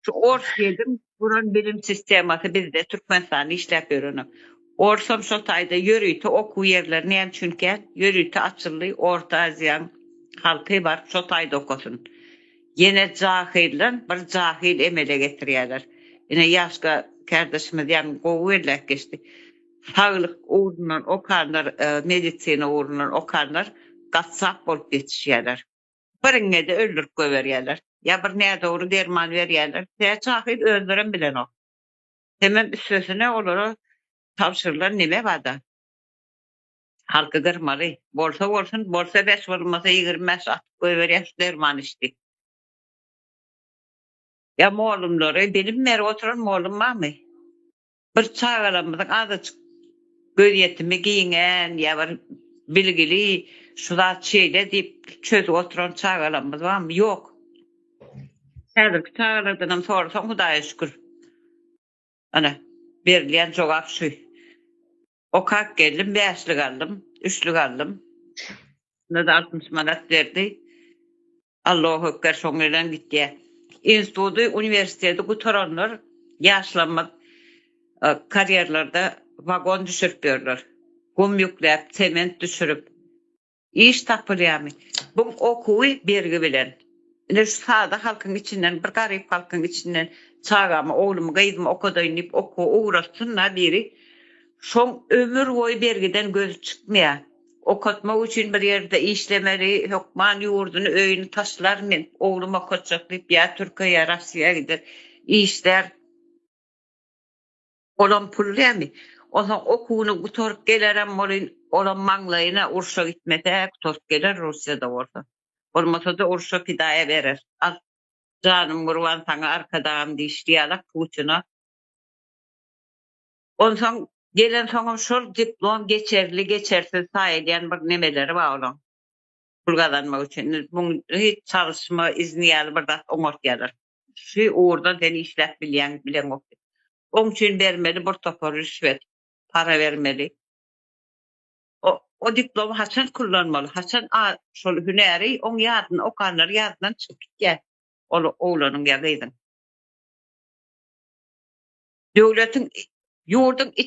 Şu ors gelin guran bilim sistemasy bizde Türkmenistanda işläp ýörenok. Orsam şo taýda ýörite okuw ýerleri näme üçin kän? Ýörite açyldy, Orta Aziýaň halky baryp şo taýda okasyn. Ýene jahyldan bir jahyl emele getirýäler. Ine Ýaşka kärdeşimiz ýaňy gowy belläp geçdi. Saglyk ugrundan okanlar, medisina ugrundan okanlar gassap bolup ýetişýäler. Biriňe-de öldürip goýberýärler. Ýa bir nädogry derman berýärler. Tä şahyr özlerem bilenok. Hemem üstesine olara tabşyrylan neme bar-da? Halky gyrmaly. Bolsa bolsun, bolsa bes, bolmasa ýigrimi bäş atyp goýberýär şu derman iç diýip. Ýa mollumlary, bilim berip oturan mollum barmy? Bir çagalarymyzyň azajyk gözýetimi giňän ýa bir bilgili şu zat şeýle diýip çözüp oturan çagalarymyz barmy? Ýok. Häzirki çagalardanam sorasaň Hudaýa şükür. Ana, berilýän jogap şu. Okap geldim, bäşlik aldym, üçlük aldym. Onda-da altmyş manat berdi. Allohu ekber, şoň bilen gitýär. Instituty, uniwersiteti gutaranlar ýaşlarymyz e, karýerlerde wagon düşürip ýörler. Gum ýükläp, sement düşürip, iş tapylýarmy bu okuwy bergi bilen. Ine şu sada halkyň içinden bir garyp halkyň içinden çagamy oglumy gyzymy okadaýyn diýip okuwa ugratsynda biri şoň ömür boýy bergiden gözi çykmaýar. Okatmak üçin bir ýerde işlemeli hökman ýurduny öýüni taşlar men oglum okatjak diýip ýa türkiýä ýa rossiýa gider işlär. Olam pul dämi? Onsoň okuwyny gutaryp gelerem welin, olam maňlaýyna urşa gitmese gutaryp geler Russiýada bolsa. Bolmasa-da urşa pidaýa berer. Al, janym gurban saňa arkadagym diýişdi ýalak Putina. Onsoň gelensoňam şol diplom geçerli, geçersiz saýylýan bir nemeleri bar olaň. Pul gazanmak üçin. Muňa hiç çalyşma izni ýaly bir zat oňartýarlar. Şu ugurda sen işläp bilýäň, bileňokdy. Oň üçin bermeli bir topar rüşwet, para bermeli. O, o diplomy haçan kullanmaly, haçan a, şol hünäri oň ýadyn, okanlary ýadyndan çykyp gitýär ol oglanyň ýa gyzyň. Döwletiň, ýurduň.